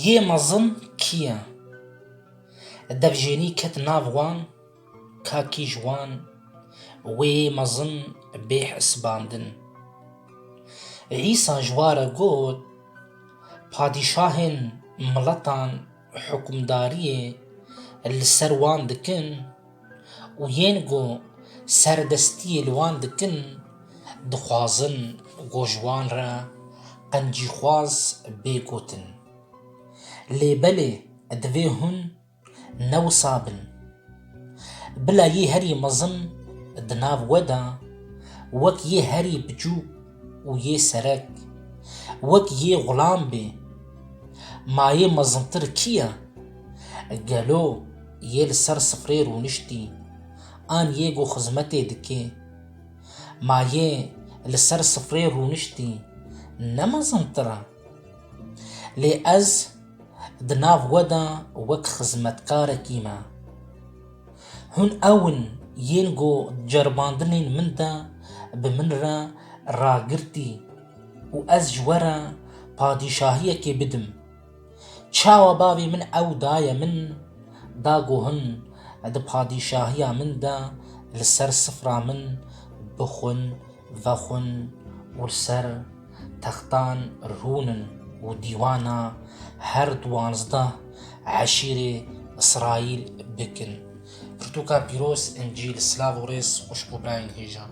Yê mezin kî ye? Devjênî ket nav wan, ka kî ji wan wê yê mezin bê hesibandin. Îsa ji wa re got, Padîşahên miletan, hukmdariyê li ser wan dikin û yên ku serdestiyê li wan dikin dixwazin ku ji wan re qencîxwaz bê gotin. Lê belê divê hûn ne wisa bin. Bila yê herî mezin di nav we de wek yê herî biçûk, û yê serek, wek yê xulam bê. Ma yê mezintir kî ye? Gelo yê li ser sifrê rûniştî, an yê ku xizmetê dike? Ma yê li ser sifrê rûniştî ne mezintir e? Lê ez di nav we de wek xizmetkarekî me. Hûn ew in yên ku ceribandinên min de bi min re ragirtî û ez ji we re padîşahiyekê bidim. Çawa bavê min ew daye min, da ku hûn di padîşahiya min de li ser sifra min bixwin Vexwin û li ser textan rûnin û dîwana her duwazdeh eşîrê Îsraîl bikin. Pirtûka pîroz Încîl Silav û rêz xwişk û birayên hêjan.